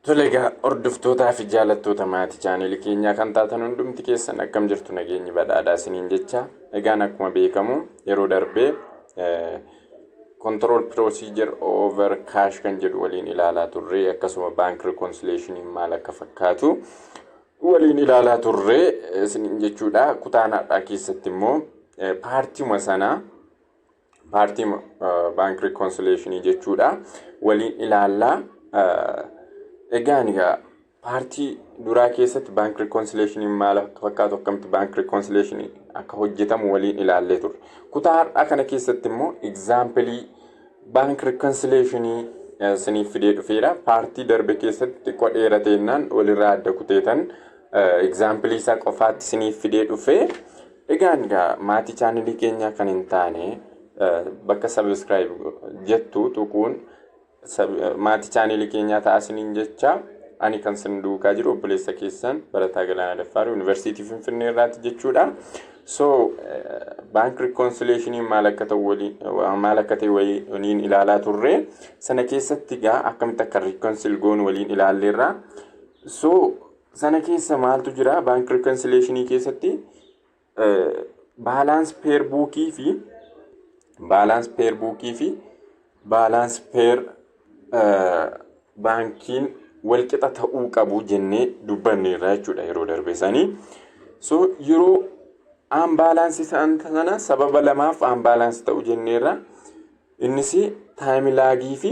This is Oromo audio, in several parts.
Tole egaa hordoftootaa fi jaalattoota maatii chaaneli keenyaa kan taatan hundumti keessan akkam jirtu nageenyi badhaadhaa isiniin jecha egaan akkuma beekamu yeroo darbee control procedure over cash kan jedhu waliin ilaalaa turre akkasuma bank reconciliation maal akka fakkaatu waliin ilaalaa turre isiniin jechuudha kutaan har'aa keessatti immoo paartiuma sanaa paartii baank rikoonsileeshinii jechuudha waliin ilaallaa egaan egaa paartii duraa keessatti baank rikoonsileeshinii maal akka fakkaatu akkamitti baank rikoonsileeshinii akka hojjetamu waliin ilaallee turre kutaa har'aa kana keessatti immoo egzaampilii baank rikoonsileeshinii isiniif fidee dhufeera paartii darbe keessatti xiqqoo dheerateennaan walirraa adda kuteetan egzaampilii isaa qofaatti isiniif fidee dhufee Egaan gaa maatii chaanalii keenyaa kan hin taane bakka subscribe jettu tuquun maatii chaanalii keenyaa ta'a isiniin jecha ani kan sin duukaa jiru obboleessa keessan barataa Galaanaa Daffaarii Yuunivarsiitii Finfinnee irraati jechuudha. So baank rikoonsileeshiniin maal akka ta'u waliin maal akka ta'e waliin ilaalaa turre sana keessatti gaa akkamitti akka rikoonsil goonu waliin ilaalleerra. So Sana keessa maaltu jira? Bank reconciliation keessatti balance pair book fi balance pair book fi balance pair baankiin walqixa ta'uu qabu jennee dubbanneerra jechuudha yeroo darbe isaanii. So yeroo aanbaalaansi isaan sana sababa lamaaf aanbaalaansi ta'u jenneerra. Innis taayimilaagii fi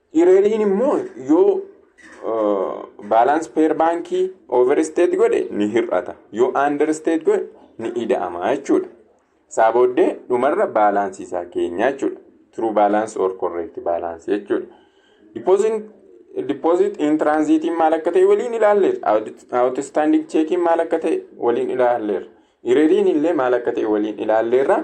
Ireriin immoo yoo baalaans peer baankii overstate godhe ni hir'ata. Yoo understate godhe ni ida'ama jechuudha. Isaa booddee dhumarra baalaansii isaa keenya jechuudha. True balance or correct balance jechuudha. Deposit, deposit in transit maal akka ta'e waliin ilaalleerra. Outstanding check maal akka ta'e waliin ilaalleerra. Ireriin illee maal akka ta'e waliin ilaalleerra.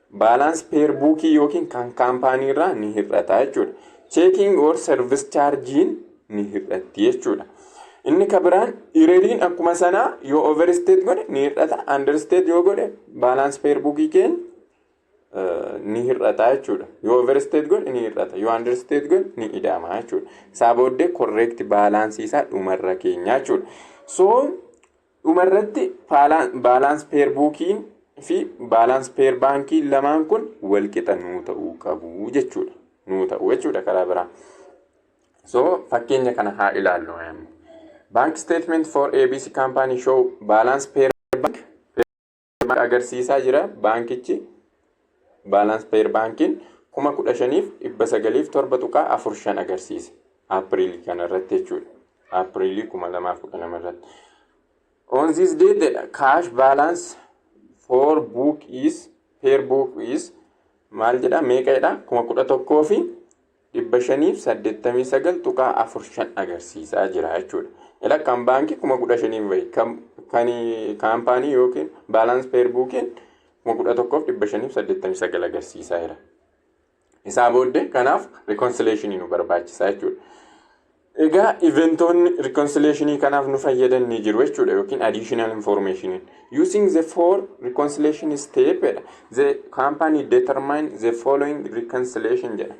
Balance pair book yookiin kan kaampaanii irraa ni hir'ata jechuudha. Checking or service charge ni hir'atti jechuudha. Inni ka biraan ireriin akkuma sanaa yoo overstate godhe ni hir'ata. Understate yoo godhe balance pair book keenya ni hir'ata jechuudha. Yoo overstate godhe ni hir'ata. Yoo understate godhe ni ida'ama jechuudha. Isaa booddee correct balance isaa dhumarra keenya jechuudha. So Dhuma irratti baalaans peer buukii fi baalaans peer baankii lamaan kun wal qixa nuu ta'uu qabu jechuudha. Nuu ta'u jechuudha karaa biraa. So fakkeenya kana haa ilaallu. Bank statement for ABC company show balance per bank agarsiisaa jira baankichi baalaans peer baankiin kuma kudha shaniif dhibba sagaliif torba tuqaa afur shan agarsiise aapiriilii kana irratti jechuudha aapiriilii kuma lamaaf kudha lama irratti on this day the cash balance for book is peer book is maal jedha meeqa jedha kuma kudha tokkoo fi 589.45 agarsiisaa jira jechuudha. Ila kan baankii 15,000 bahe kan kaampaanii yookiin baalaans peer buukiin 11,589 agarsiisaa jira. Isaa booddee kanaaf rikoonsileeshinii nu barbaachisaa jechuudha. Egaa iventoonni reconciliation kanaaf nu fayyadan ni jiru jechuudha yookiin additional information. Using the four reconciliation step jedha. The company determine the following reconciliation jedha.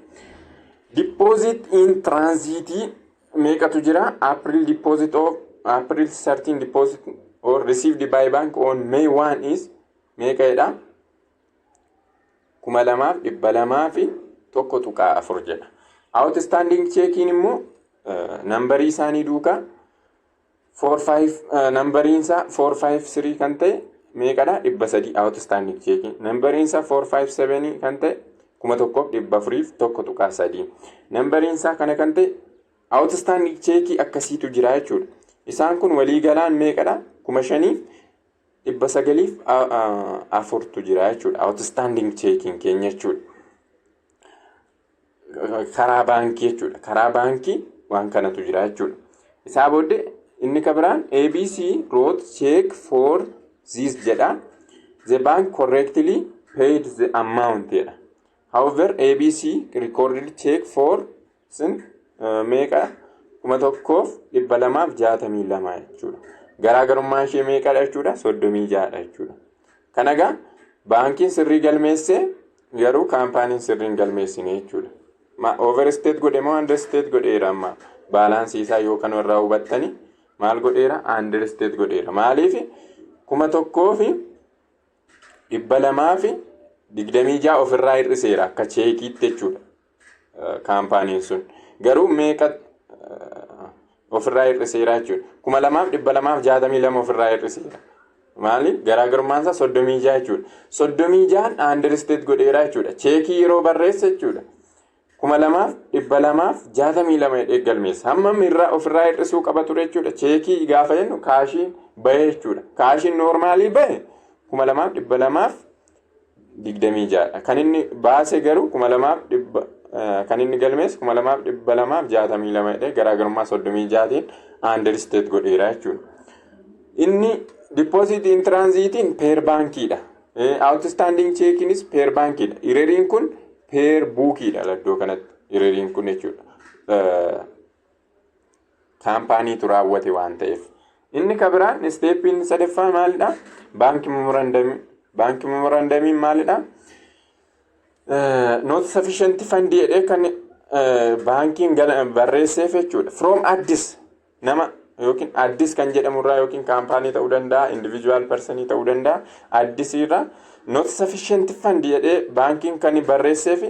Deposit in transit meeqatu jira? April deposit of April 13 deposit or received by bank on May 1 is meeqa jedha? kuma lamaaf dhibba lamaa fi tokko tuqaa afur jedha. Outstanding cheekiin immoo nambarii isaanii duukaa nambariin isaa 453 kan ta'e meeqadha dhibba sadii outstanding cheekiin nambariin isaa 457 kan ta'e kuma tokkoof dhibba afuriif tokko tuqaa sadii nambariin isaa kana kan ta'e outstanding cheekii akkasiitu jira jechuudha. Isaan kun walii galaan meeqadha kuma shaniif dhibba sagaliif afurtu jira jechuudha. Outstanding checking keenya jechuudha. Karaa baankii jechuudha. Karaa baankii waan kanatu jira jechuudha. Isaa booddee inni kan biraan ABC wrote check for this jedha. The bank correctly paid the amount jedha. However, ABC recorded check for sin uh, meeqa kuma tokkoof dhibba lamaaf jaatamii lama jechuudha. Garaagarummaan ishee meeqadha jechuudha? Soddomii ja'adha jechuudha. Kana egaa baankiin sirrii galmeessee garuu kaampaaniin sirrii hin galmeessine jechuudha. Ma overstate godhe moo understate godheera amma baalaansii isaa yoo kan irraa hubattani maal godheera understate godheera. Maaliif kuma tokkoo fi dhibba lamaa fi digdamii ja'a ofirraa hir'iseera akka cheekiitti jechuudha kaampaaniin sun garuu meeqa ofirraa hir'iseera jechuudha kuma lamaaf dhibba lamaaf jaatamii lama ofirraa hir'iseera maali garaagarummaan isaa soddomii ja'a jechuudha soddomii ja'an aandirsteet godheera jechuudha cheekii yeroo barreessa jechuudha 2262 jedhee galmeessa. Hammam irraa ofirraa hir'isuu qaba ture jechuudha. Cheekii gaafa jennu kaashiin bahee jechuudha. Kaashiin noormaalii bahe 2226 dha. Kan inni baase garuu 2200 kan inni galmeesse 2262 jedhee garaagarummaa 36tiin aandirsteet godheera jechuudha. Inni dippoozitii intiraanziitiin peer baankiidha. Awutistaandiing cheekiinis peer baankiidha. Ireriin kun Peer buukiidha iddoo kanatti hiriiriin kun jechuudha. Kaampaaniitu raawwate waan ta'eef. Inni ka biraan isteeppiin sadaffaa maalidha? Baankii memorandamii. Baankii memorandamiin maalidha? Nooti safishanti fandii jedhee kan baankiin barreesseef jechuudha. From Addis nama yookiin addis kan jedhamu irraa yookiin kaampaanii ta'uu danda'a individual person ta'uu danda'a addis irraa not sufficient fund jedhee baankiin kan barreesseef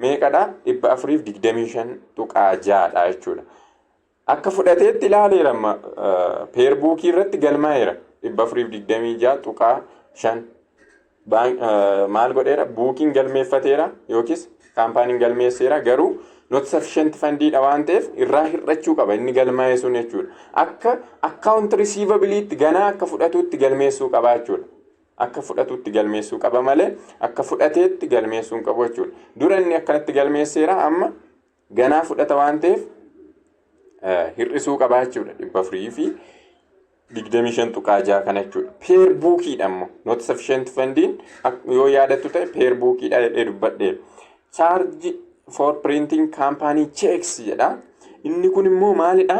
meeqadha dhibba afuriif digdamii shan tuqaa ja'adha jechuudha. Akka fudhateetti ilaaleera amma peerbuukii irratti galmaa'eera dhibba afuriif digdamii ja'a tuqaa shan maal godheera buukiin galmeeffateera yookiis kaampaaniin galmeesseera garuu not sufficient fandiidha waan ta'eef irraa hir'achuu qaba inni galmaa'ee sun jechuudha. Akka akkaawunti risiivabiliitti ganaa akka fudhatuutti galmeessuu qaba jechuudha. Akka fudhatuutti galmeessuu qaba malee akka fudhateetti galmeessuu hin qabu jechuudha. Dura inni akkanatti galmeesseera amma Ganaa fudhata waan ta'eef hir'isuu qabaa jechuudha dhibba afurii fi digdamii shan tuqaa jaha kana jechuudha. Peer buukiidha ammoo not sufficient fundiin yoo yaadattu ta'e peer buukiidha jedhee dubbadhee. Chaarji for printing kaampaanii cheeks jedha. Inni kun immoo maalidha?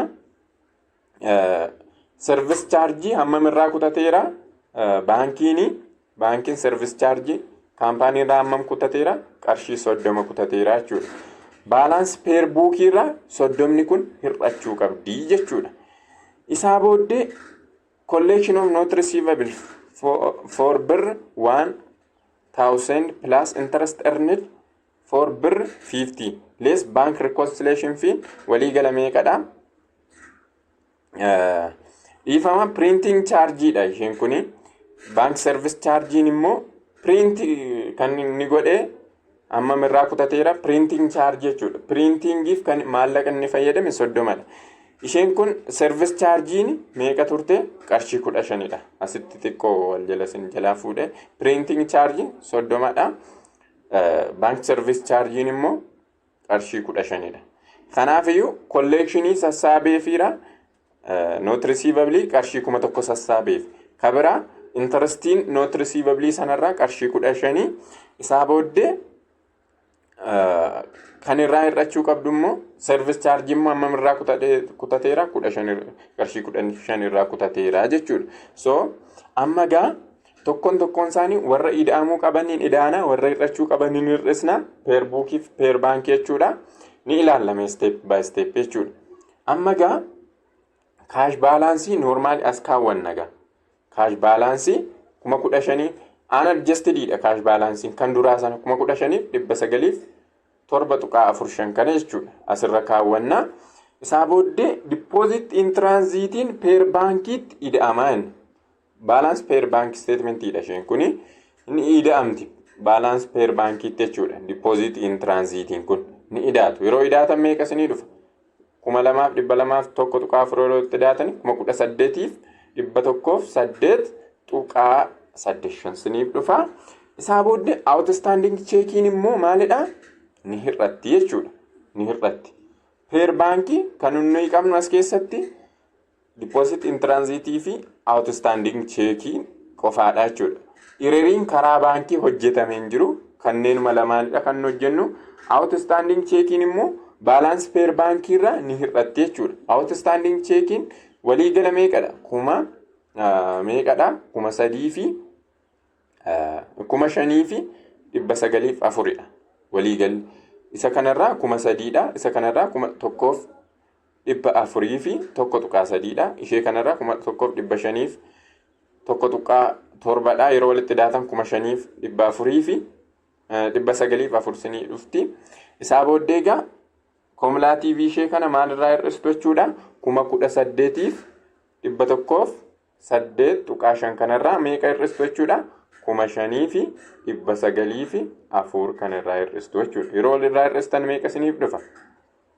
Service chaarjii hammam irraa kutateera? Baankiin baankiin service chaarjii kaampaanii irraa hammam kutateera? Qarshii soddoma kutateera jechuudha. Baalaansi peer buukii irraa soddomni kun hir'achuu qabdi jechuudha. Isaa booddee collection of not receivable for, for birr waan thousand plus interest earned for birr 50 less bank reconciliation fee walii gala meeqadha Eh, dhiifama printing charge dha isheen kuni bank service chargein immoo print kan inni godhe amma irraa kutateera printing charge jechuudha printingiif kan maallaqa inni fayyadame soddomadha isheen kun service chargein meeqa turte qarshii kudha shanidha asitti xiqqoo wal jala sin jalaa fuudhe printing charge soddomadha Baank sarvis chaarjiin immoo qarshii kudha shanidha. Kanaafiyyuu kolleekshinii sassaabee fiira noot risiivabilii qarshii kuma tokko sassaabeef. Ka biraa intarastiin noot risiivabilii sanarraa qarshii kudha shanii isaa booddee eh, kan irraa hir'achuu qabdu immoo sarvis chaarjii immoo hammam irraa kutate- kutateera kudha shan irra- qarshii kudha shan irraa kutateera jechuudha. So amma gaa Tokkoon tokkoon isaanii warra ida'amuu qabaniin ida'ana, warra hir'achuu qabaniin hir'isna. Peer buukii fi peer baankii jechuudha. Ni ilaalame step by step jechuudha. Amma gaa kaash baalaansii noormaali as kaawwanna gaa. Kaash baalaansii kuma kudha shanii aan adjastediidha kaash baalaansiin kan duraa sana kuma kudha shaniif dhibba sagaliif torba tuqaa afur shan kana jechuudha. Asirra kaawwanna. Isaa booddee dippooziit intraanziitiin peer baankiitti ida'amaa inni. Balance per bank statement dha isheen kuni ni ida'amti balance per bankiitti jechuudha deposit in transitiin kun ni idaatu yeroo idaatan meeqa isinii dhufa kuma lamaaf dhibba lamaaf tokko tuqaa afur yeroo itti idaatan kuma kudha saddeetiif dhibba tokkoof saddeet tuqaa saddeet shan isiniif dhufa isaa booddee outstanding cheekiin immoo maalidha ni hir'atti jechuudha ni hir'atti per baankii kan nuyi qabnu as keessatti Deposit in transit fi outstanding cheekii qofaadha jechuudha. Ireriin karaa baankii hojjetame hin jiru. Kanneenuma lamaanidha kan nu hojjennu. Outstanding cheekiin immoo baalaansi peer baankii irraa ni hir'atti jechuudha. Outstanding cheekiin waliigala meeqadha? Kuma meeqadha? Kuma sadii fi kuma shanii fi dhibba sagaliif afuridha waliigalli. Isa kanarraa kuma sadiidha. Isa kanarraa kuma tokkoof dhibba afurii fi tokko tuqaa sadiidha. Ishee kanarraa kuma tokkoof dhibba shaniif tokko tuqaa torbadha. Yeroo walitti daatan kuma shaniif dhibba afurii fi dhibba sagaliif afur sinii dhufti. Isaa booddee egaa koomulaatiivii ishee kana maalirraa hir'istu jechuudha. Kuma kudha saddeetiif dhibba tokkoof saddeet tuqaa shan kanarraa meeqa hir'istu jechuudha. kuma shanii fi dhibba sagalii fi afur kan irraa hir'istu jechuudha. Yeroo walirraa hir'istan meeqa isiniif dhufa?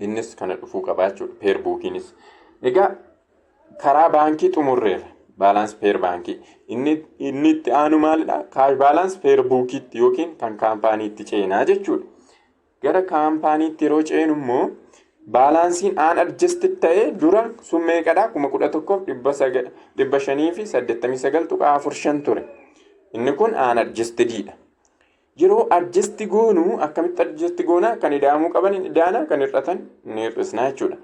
Innis kana dhufuu qabaa jechuudha. Peer buukiinis. Egaa karaa baankii xumurreerra. Baalaansi peer baankii. Inni, inni itti aanu maalidha? Kaash baalaansi peer buukiitti yookiin kan kaampaaniitti ceenaa jechuudha. Gara kaampaaniitti yeroo ceenu immoo baalaansiin aan adjasti ta'ee dura sun meeqadha? kuma kudha tokkoof dhibba shanii fi saddeettamii sagal tuqaa afur shan ture. Inni kun aan adjastididha. Yeroo adjasti goonu akkamitti adjasti goona kan ida'amuu qaban hin ida'ana kan hir'atan ni hir'isna jechuudha.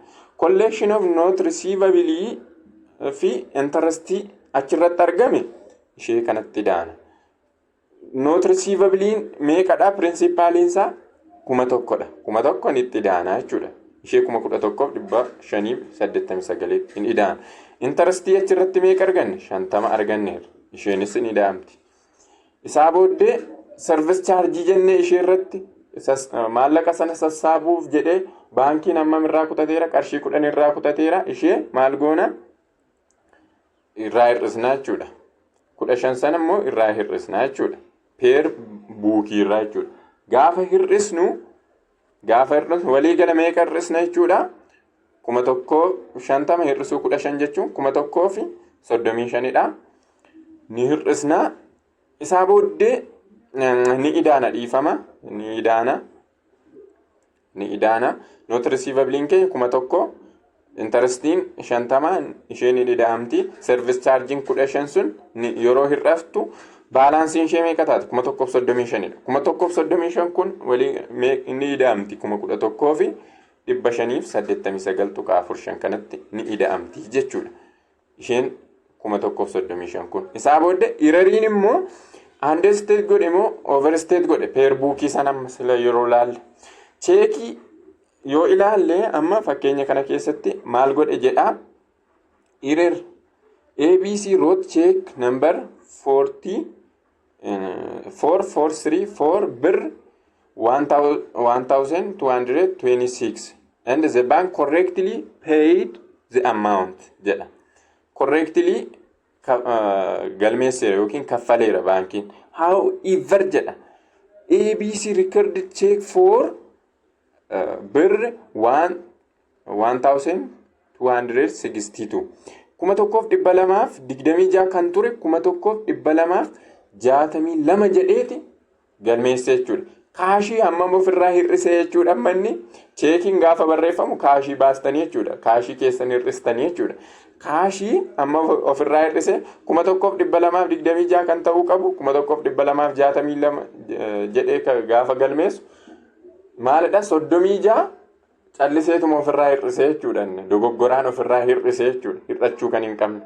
Collection of not receivabilii fi intarastii achirratti argame ishee kanatti ida'ana. Not receivabiliin meeqadha pirinsippaaliin isaa kuma tokkodha. Kuma tokkon itti ida'ana jechuudha. Ishee kuma kudha tokkoof dhibba shaniif saddeettamii sagaliitti hin ida'ana. Intarastii achirratti meeqa arganne shantama arganneerra. Isheenis hin ida'amti. Isaa booddee sarvis chaarjii jennee ishee irratti maallaqa sana sassaabuuf jedhee baankiin hammam irraa kutateera qarshii kudhan irraa kutateera ishee maal goona irraa hir'isnaa jechuudha. Kudha shan sana immoo irraa hir'isnaa jechuudha. Peer buukii irraa jechuudha. Gaafa hir'isnu Gaafa hir'atu walii gala meeqa hir'isna jechuudha. Kuma tokkoo shantama hir'isuu kudha shan jechuun kuma tokkoo fi soddomii shanidha. Ni hir'isna. Isaa booddee ni idaana dhiifama. Ni idaana. Ni idaana. Noota risiivabiliin keenya kuma tokkoo Intarestiin shantamaan ishee ni dida'amti. Service charging kudha shan sun yeroo hir'aftu baalaansiin ishee meeqa taati? Kuma tokkoof soddomii shanidha. Kuma tokkoof soddomii shan kun walii ni dida'amti kuma kudha tokkoo fi dhibba shaniif saddeettamii sagal tuqaa afur shan kanatti ni dida'amti jechuudha. isheen kuma tokkoof soddomii shan kun isaa booda irariin immoo handee isteet godhe immoo over isteet godhe peer buukii san amma sila yeroo laalle cheekii yoo ilaalle amma fakkeenya kana keessatti maal godhe jedha irer abc root cheek number 40 four four three four birr one thou- one thousand two hundred twenty six and the bank correctly paid the amount jedha correctly ka- ah, galmeesseera yookiin kaffaleera baankiin how ever jedha abc record check for uh, birr one 1262 kuma tokkoof dhibba lamaaf digdamii ja'a kan ture kuma tokkoof dhibba lamaaf jaatamii lama jedheeti galmeessa jechuudha. Kaashii hammam ofirraa hir'isee jechuudha manni cheekiin gaafa barreeffamu kaashii baastanii jechuudha. Kaashii keessan hir'istanii jechuudha. Kaashii amma ofirraa hir'ise kuma tokkoof dhibba lamaaf digdamii ja'a kan ta'uu qabu kuma tokkoof dhibba lamaaf jaatamii lama jedhee gaafa galmeessu maalidha soddomii ja'a Calliseetuma ofirraa hir'isee jechuudha inni. Dogoggoraan ofirraa hir'isee jechuudha. Hir'achuu kan hin qabne.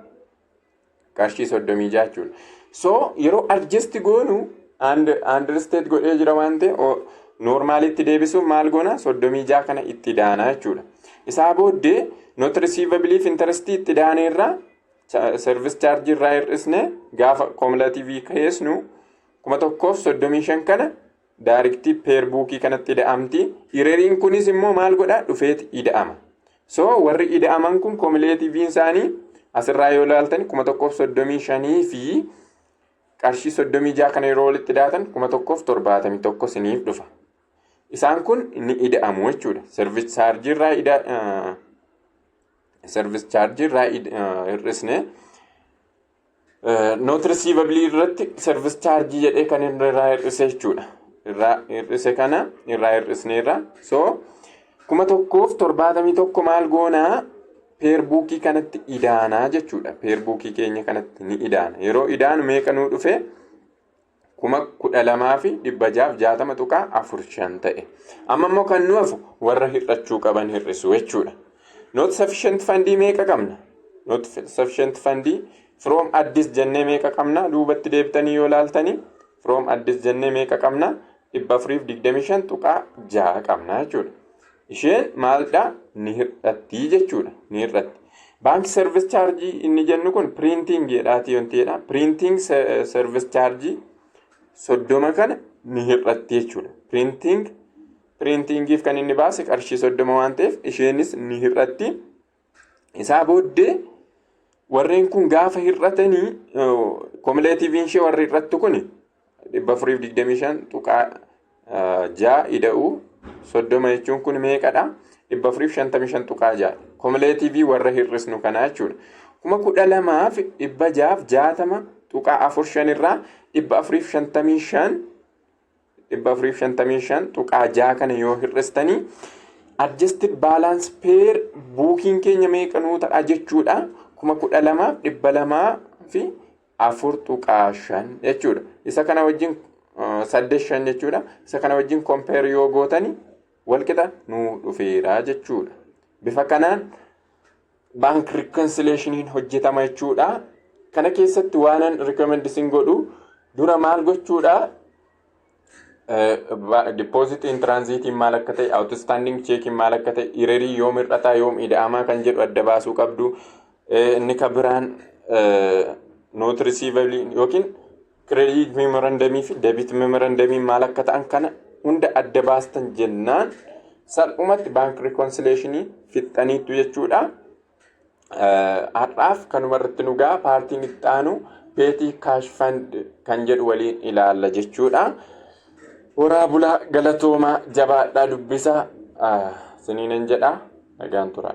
Qarshii soddomii ja'a jechuudha. So yeroo adjust goonu understate godhee jira waan ta'e normaalitti deebisuun maal goona soddomii ja'a kana itti daana jechuudha. Isaa booddee not receivable fi interest itti daanee irraa service charge irraa hir'isne gaafa cumulative keessnu kuma tokkoof soddomii shan kana daarikti peer buukii kanatti ida'amti. Ireriin kunis immoo maal godha dhufeet ida'ama. So warri ida'aman kun komileetiiviin isaanii asirraa yoo ilaaltan kuma tokkoof soddomii shanii fi qarshii soddomii jaha kana yeroo walitti daatan kuma tokkoof torbaatamii tokko siniif dhufa. Isaan kun ni ida'amu jechuudha. Service charge irraa ida service charge irraa hir'isne. Note receivable irratti service charge jedhee kan irraa hir'ise jechuudha. Irraa hir'ise kana irraa hir'isneerra. So kuma tokkoof torbaatamii tokko maal goonaa peerbuukii kanatti idaanaa jechuudha. Peerbuukii keenya kanatti ni idaana. Yeroo idaanu meeqa nuu dhufe kuma kudha lamaa fi dhibba jaaf jaatama tuqaa afur shan ta'e. Amma immoo kan nu hafu warra hir'achuu qaban hir'isu jechuudha. Not sufficient fandii meeqa qabna? Not sufficient fandii from addis jennee meeqa qabna? Duubatti deebitanii yoo laaltanii from addis jennee meeqa qabna? 425.6 qabna jechuudha. Isheen maaldhaa ni hir'atti jechuudha. Ni hir'atti. Baanki service chaarjii inni jennu kun piriintiing jedhaati wanti jedha. Piriintiing service chaarjii soddoma kana ni hir'atti jechuudha. Piriintiing piriintiingiif kan inni baase qarshii soddoma waan ta'eef isheenis ni hir'atti. Isaa booddee warreen kun gaafa hir'atanii komileetiiviin ishee warri hir'attu kun 425.6 ida'uu 30 jechuun kun meeqadha? 455.6 komileetiivii warra hir'isnu kanaa jechuudha. Kuma kudha lamaa fi dhibba jaaf jaatama tuqaa afur shan irraa dhibba afuriif shantamii shan 455.6 kana yoo hir'istanii adjusted balance pair buukiin keenya meeqa nuu ta'a jechuudha 12,204.5 jechuudha isa kana wajjin uh, 85 jechuudha isa kana wajjin compare yoo gootanii walqixa nuu dhufeera jechuudha bifa kanaan Bank reconciliation hin hojjetama jechuudha. Kana keessatti waanan recommend isin godhu dura maal gochuudha? Deposit in transit maal akka ta'e, outstanding check maal akka ta'e, irerii yoom hir'ataa yoom ida'amaa kan jedhu adda baasuu qabdu. Inni kan biraan note receivable yookiin Kireediit meemorandamii fi deebiit meemorandamii maal akka ta'an kana hunda adda baastan jennaan salphumatti baank rikoonsileeshinii fixxaniittu jechuudha. Har'aaf kanuma irratti nu ga'a paartiin itti aanu peetii kaash fand kan jedhu waliin ilaalla jechuudha. Horaa bulaa galatoomaa jabaadhaa dubbisaa siniinan jedhaa nagaan turaa.